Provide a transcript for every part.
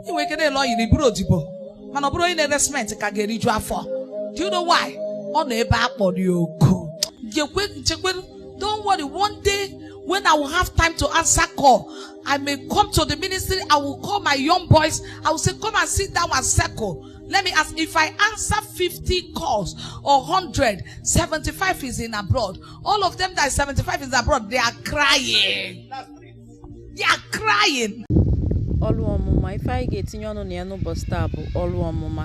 ị nwere ike na-ele oil bụrụ odibo mana ọ bụrụ onye na-ere cement ka ga-eriju afọ do you know why ọ nọ ebe a kpọrọ ya oku jekwe jekwe don't worry one day when I will have time to answer call I may come to the ministry I will call my young boys I will say come and sit down in circle let me ask if I answer 50 calls or 100 75 is in abroad all of them that is 75 is abroad they are crying. ọrụ ọmụma ife anyị ga-etinye ọnụ na ya n'ụbọsị taa bụ ọrụ ọmụma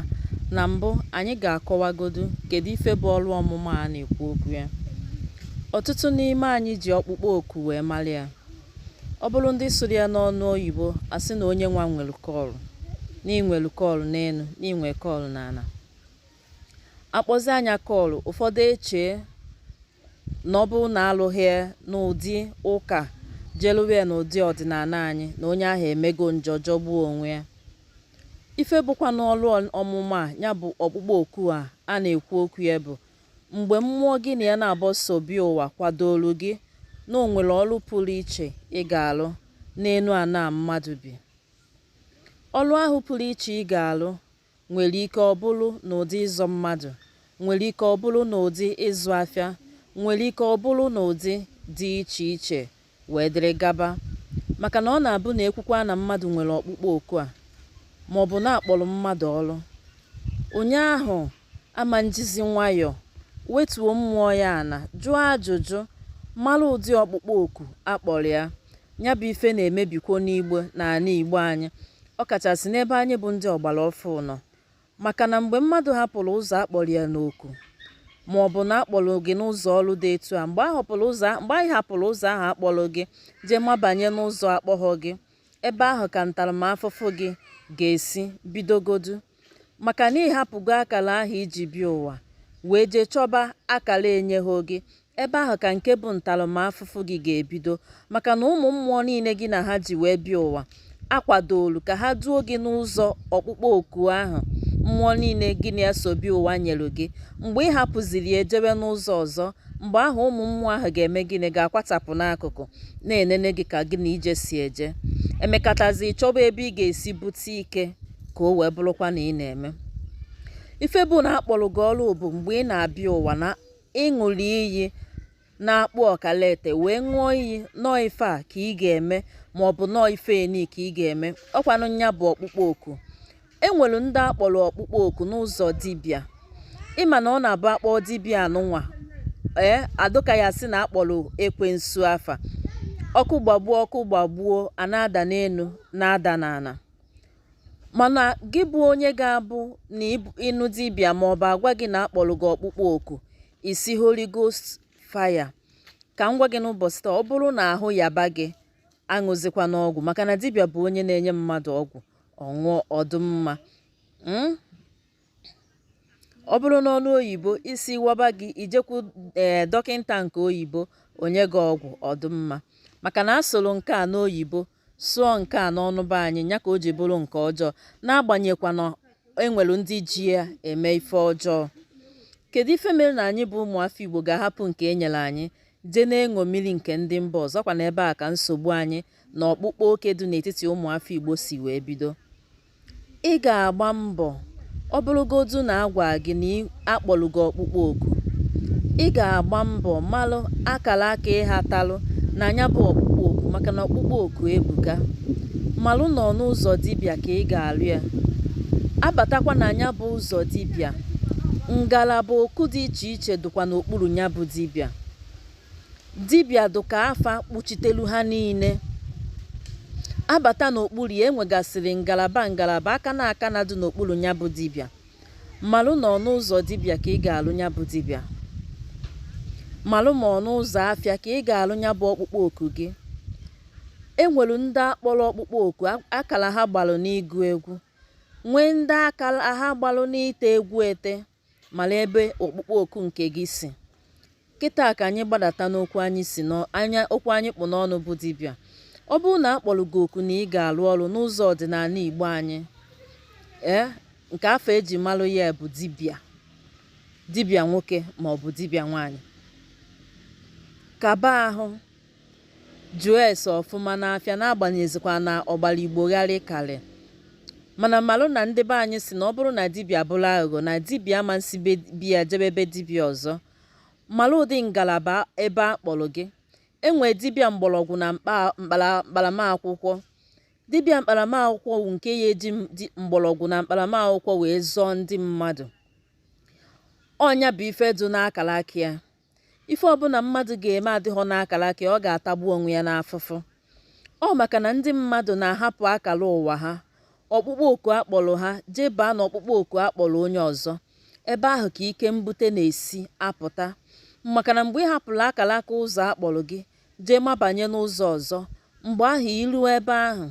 na mbụ anyị ga-akọwagodu kedu ife bụ ọrụ ọmụma a na-ekwu okwu ya ọtụtụ n'ime anyị ji ọkpụkpọ oku wee mara ya ọ bụrụ ndị sụrụ ya n'ọnụ oyibo a sị na onye nwa nwere call na i nwere call n'enu na i nwere call n'ana a kpọzịa nya call ụfọdụ echee na ọ bụrụ na alụghị ya n'ụdị ụka jee lụwa ya n'ụdị ọdịnana anyị na onye ahụ emego njọ jọgbuo onwe ya ife bụkwanụ ọrụ ọmụma a nya bụ ọkpụkpọ oku a a na-ekwu okwu ya bụ mgbe mmụọ gị na ya naabọ so bịa ụwa kwadoro gị na o nwere ọlụ pụrụ iche ị ga-alụ n'enu ana mmadụ bi ọlụ ahụ pụrụ iche ị ga-alụ nwere ike ọ bụrụ n'ụdị ịzọ mmadụ nwere ike ọ bụrụ n'ụdị ịzụ afịa nwere ike ọ bụrụ n'ụdị dị iche iche wee dịrị gaba maka na ọ na-abụ na e kwukwa na mmadụ nwere ọkpụkpọ oku a ma ọ bụ na a kpọrọ mmadụ ọrụ onye ahụ ama njizi nwayọọ wetuo mmụọ ya ana jụọ ajụjụ mara ụdị ọkpụkpọ oku a kpọrọ ya Nya bụ ife na-emebikwo n'Igbo n'ana Igbo anyị, ọkachasị n'ebe anyị bụ ndị ọgbara ọfụụ nọ. Maka na mgbe mmadụ hapụrụ ụzọ a kpọrọ ya n'oku maọbụ na a kpọrọ gị n'ụzọ ọrụ dị etu a, mgbe ị hapụrụ ụzọ ahụ a kpọrọ gị jee mabanye n'ụzọ akpọghọ gị, ebe ahụ ka ntaramafụfụ gị ga-esi bidogodu. maka na ị hapụgo akala ahụ i ji bịa ụwa wee jee chọba akala enyehọ gị ebe ahụ ka nke bụ ntaramafụfụ gị ga-ebido maka na ụmụ mmụọ niile gị na ha ji wee bịa ụwa akwadolu ka ha duo gị n'ụzọ ọkpụkpọ oku ahụ mmụọ niile gị na ha so bịa ụwa nyere gị mgbe ị hapụziri ya jewe n'ụzọ ọzọ mgbe ahụ ụmụ mmụọ ahụ ga-eme gịnị ga-akwatapụ n'akụkụ na-enene gị ka gị na ije si eje emekatazi chọba ebe ị ga-esi bute ike ka o wee bụrụkwa na ị na-eme ife bụ na a kpọrọ gị ọrụ bụ mgbe ị na-abịa ụwa na ị ṅụrụ iyi n'akpụ ọkalete wee ṅụọ iyi na ọọ ife a ka ị ga-eme ma ọ bụ na ọọ ife eni ka ị ga-eme ọkwanụ nya bụ ọkpụkpọ oku e nwere ndị a kpọrọ ọkpụkpọ oku n'ụzọ dibịa ị ma na ọ na-abụ a kpọọ dibịa anụnwa ee adụ ka a sị na a kpọrọ ekwensu afa ọkụ gbagbuo ọkụ gbagbuo a na-ada n'enu na-ada n'ana mana gị bụ onye ga-abụ na ị nụ dibịa ma ọ bụ a gwa gị na a kpọrọ gị ọkpụkpọ oku ị sị Holy Ghost fire ka m gwa gị n'ụbọchị taa ọ bụrụ na ahụ yaba gị aṅụzikwana ọgwụ maka na dibịa bụ onye na-enye mmadụ ọgwụ ọ ṅụọ ọ dụ mma hmm? ọ bụrụ n'ọnụ oyibo isi waba gị i jekwu ee eh, dọkịnta nke oyibo o nye gị ọgwụ ọ dụ mma maka na a sụrụ nke a n'oyibo sụọ nke a n'ọnụ be anyị ya ka o ji bụrụ nke ọjọọ n'agbanyeghịkwa na e nwere ndị ji ya eme ife ọjọọ kedu ife mere na anyị bụ ụmụafọ igbo ga-ahapụ nke e nyere anyị jee na-eṅomiri nke ndị mba ọzọ kwa n'ebe a ka nsogbu anyị na ọkpụkpa oke dị n'etiti ụmụafọ igbo si wee bido Ị ga-agba mbọ ọ bụrụgodu na a gwaa gị na a kpọrọ gị ọkpụkpọ oku. Ị ga-agba mbọ malụ akara aka ị hatalụ na nya bụ ọkpụkpọ oku maka na ọkpụkpọ oku ebuka. Malụ na ọ n'ụzọ dibịa ka ị ga-alụ ya. A batakwa na nya bụ ụzọ dibịa, ngalaba oku dị iche iche dịkwa n'okpuru nya bụ dibịa. Dibịa dụ ka afa kpuchitelu ha niile. A bata n'okpuru ya, e nwegasịrị ngalaba ngalaba aka na aka na dị n'okpuru nya bụ dibịa. Malụ na ọ n'ụzọ dibịa ka ị ga-alụ nya bụ dibịa. Malụ ma ọ n'ụzọ afịa ka ị ga-alụ nya bụ ọkpụkpọ oku gị. E nwere ndị a kpọrọ ọkpụkpọ oku a- akara ha gbalụ n'ịgụ egwu, nwee ndị akara ha gbalụ n'ite egwu ete. malụ ebe ọkpụkpọ oku nke gị si kịta ka anyị gbadata n'okwu anyị si n'anya okwu anyị kpụ n'ọnụ bụ dibịa ọ bụrụ na a kpọrọ gị oku na ị ga-arụ ọrụ n'ụzọ ọdịnala igbo anyị ee nke afa e ji malụ ya bụ dibịa dibịa nwoke ma ọ bụ dibịa nwaanyị kaba ahụ Jụọ ese ọfụma n'afa n'agbanyeghịzịkwa na ọgbara Igbo gharị karị. Mana malụ na ndị be anyị sị na ọ bụrụ na dibịa bụrụ aghụghọ na dibịa ama esi be bi ya jebe be dibịa ọzọ. Malụ ụdị ngalaba ebe a kpọrọ gị. E nwee dibịa mgbọrọgwụ na mkpa mkpara mkparamakwụkwọ. Dibịa mkparamakwụkwọ wụ nke ya eji m- di- mgbọrọgwụ na mkparamakwụkwọ wee zọọ ndị mmadụ. Ọ nya bụ ife dụ n'akara aka ya. ife ọbụna mmadụ ga-eme adịghọ n'akara aka ọ ga-atagbu onwe ya n'afụfụ ọ maka na ndị mmadụ na-ahapụ akara ụwa ha ọkpụkpọ oku a kpọrọ ha jee baa na ọkpụkpọ oku a kpọrọ onye ọzọ ebe ahụ ka ike mbute na-esi apụta maka na mgbe ị hapụrụ akara aka ụzọ a kpọrọ gị jee mabanye n'ụzọ ọzọ mgbe ahụ i ruo ebe ahụ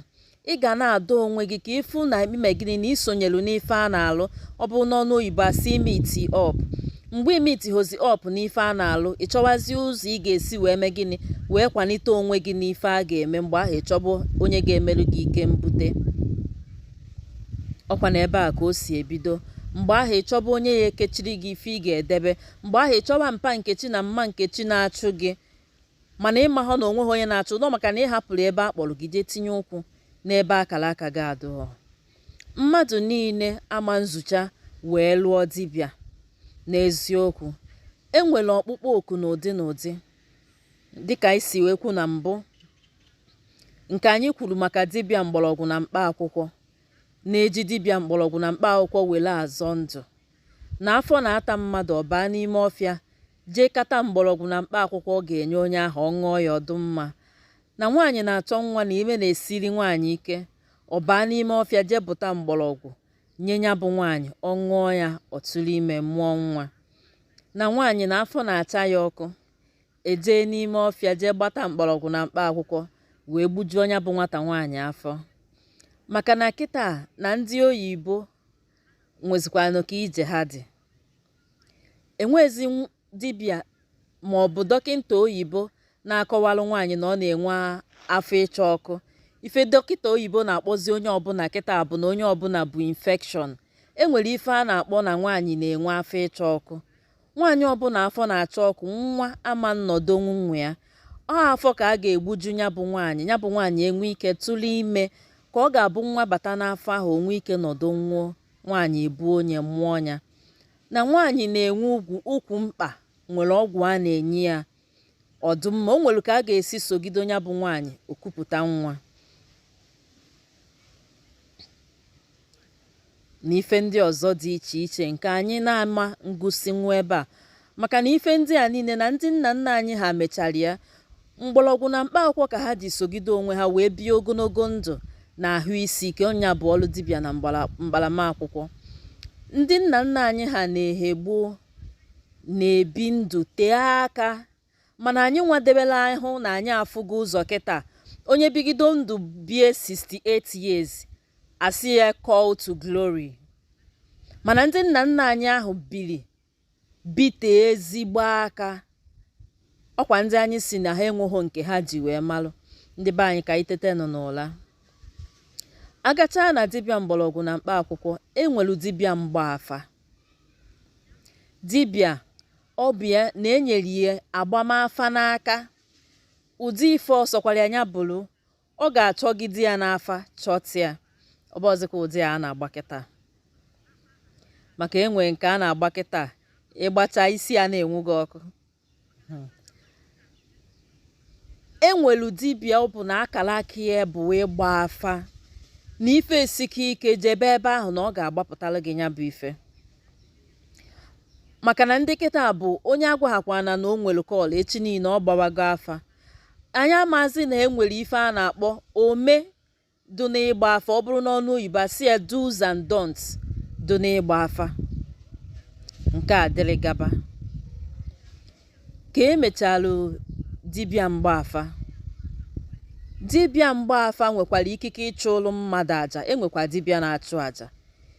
ị ga na-adọ onwe gị ka ị fụ na i me gịnị na i sonyelu n'ife a na-alụ ọ bụrụ n'ọnụ oyibo a sị i meet up mgbe i meetihozi up n'ife a na-alụ ị chọwazi ụzọ ị ga-esi wee mee gịnị wee kwalite onwe gị n'ife a ga-eme mgbe ahụ ị chọba onye ga-emerụ gị ike mbute ọkwa na ebe a ka o si ebido mgbe ahụ ị chọba onye ya-ekechiri gị ife ị ga-edebe mgbe ahụ ị chọba mpa Nkechi na mma Nkechi na-achụ gị mana ị mahụ na o nweghị onye na-achụ ọ dụ maka na ị hapụrụ ebe a kpọrọ gị jee tinye ụkwụ n'ebe akara aka gị adụghọ mmadụ niile ama nzucha wee lụọ dibịa n'eziokwu e nwere ọkpụkpọ oku n'ụdị n'ụdị dịka anyị si wee kwu na mbụ nke anyị kwuru maka dibịa mgbọrọgwụ na mkpa akwụkwọ na e ji dibịa mgbọrọgwụ na mkpa akwụkwọ were azọ ndụ na afọ na-ata mmadụ ọ baa n'ime ọfịa jee kata mgbọrọgwụ na mkpa akwụkwọ ọ ga-enye onye ahụ ọ ṅụọ ya ọ dụ mma na nwaanyị na-achọ nwa na ime na-esiri nwaanyị ike ọ baa n'ime ọfịa jee buta mgbọrọgwụ nye ya bụ nwaanyị ọ ṅụọ ya ọ tụrụ ime mụọ nwa na nwaanyị na afọ na-acha ya ọkụ e jee n'ime ọfịa jee gbata mgbọrọgwụ na mkpa akwụkwọ wee gbujuo ya bụ nwata nwaanyị afọ maka na kịta na ndị oyibo nwezikwanụ ka ije ha dị enwezi dibịa ma ọ bụ dọkịta oyibo na-akọwalụ nwaanyị na ọ na-enwe afọ ịcha ọkụ ife dọkịta oyibo na-akpọzi onye ọbụla kịta bụ na onye ọbụla bu infection e nwere ife a na-akpọ na nwaanyị na-enwe afọ ịcha ọkụ Nwaanyị ọbụla afọ na-acha ọkụ nwa ama nnọdonwu na ya ọ afọ ka a ga-egbuju ya bụ nwaanyị ya bụ nwaanyị enwee ike tụrụ ime ka ọ ga-abụ nwa bata n'afọ ahụ o nwee ike nọdụnwuo nwaanyị ebuo ya mụọ ya na nwaanyị na-enwe ukwu mkpa nwere ọgwụ a na-enye ya ọ dụ mma o nwere ka a ga-esi sogide onye bụ nwaanyị o kupụta nwa na ife ndị ọzọ dị iche iche nke anyị na-ama ngụsinwu ebe a maka na ife ndị a niile na ndị nna nna anyị ha mechara ya mgbọrọgwụ na mkpa akwụkwọ ka ha ji sogide onwe ha wee bie ogologo ndụ na ahụ isi ike ọ ya bụ ọrụ dibịa na mkparama akwụkwọ ndị nna nna anyị ha n'ehe gboo na-ebi ndụ tee aka mana anyị nwa debela ahụ na anyị afụgo ụzọ kịta onye bigido ndụ bie 68 years a sị ya call to glory mana ndị nna nna anyị ahụ biri bite ezigbo aka ọkwa ndị anyị sị na ha enweghị nke ha ji wee malụ ndị be anyị ka anyị tetenụ n'ụla a gachaa na dibịa mgbọrọgwụ na mkpa akwụkwọ e nwelu dibịa mgba afa Dibịa ọ bụ ya na e nyere ya agbam afa n'aka ụdị ife ọ sọkwara ya nya bụrụ ọ ga-achọgide ya n'afa chọta ya ọ bụrọzịkwa ụdị a a na-agba kịta maka e nwee nke a na-agba kịta ị gbacha isi ana-enwu gị ọkụ hmm. e nwelu dibịa ọ bụ na akara aka ya bụ ịgba afa na ife sike ike jebe ebe ahụ na ọ ga-agbapụtara gị nya bụ ife maka na ndị kịta bụ onye a gwahakwana na o nwere call echi niile ọ gbawago afa anyị amazi na e nwere ife a na-akpọ ome dụ n'ịgba afa ọ bụrụ n'ọnụ oyibo a sị ya do's and don'ts dụ n'ịgba afa nke a dịrị gaba ka e mechalụ dibịa mgba afa dibịa mgba afa nwekwara ikike ịchụlụ mmadụ aja e nwekwa dibịa na-achụ aja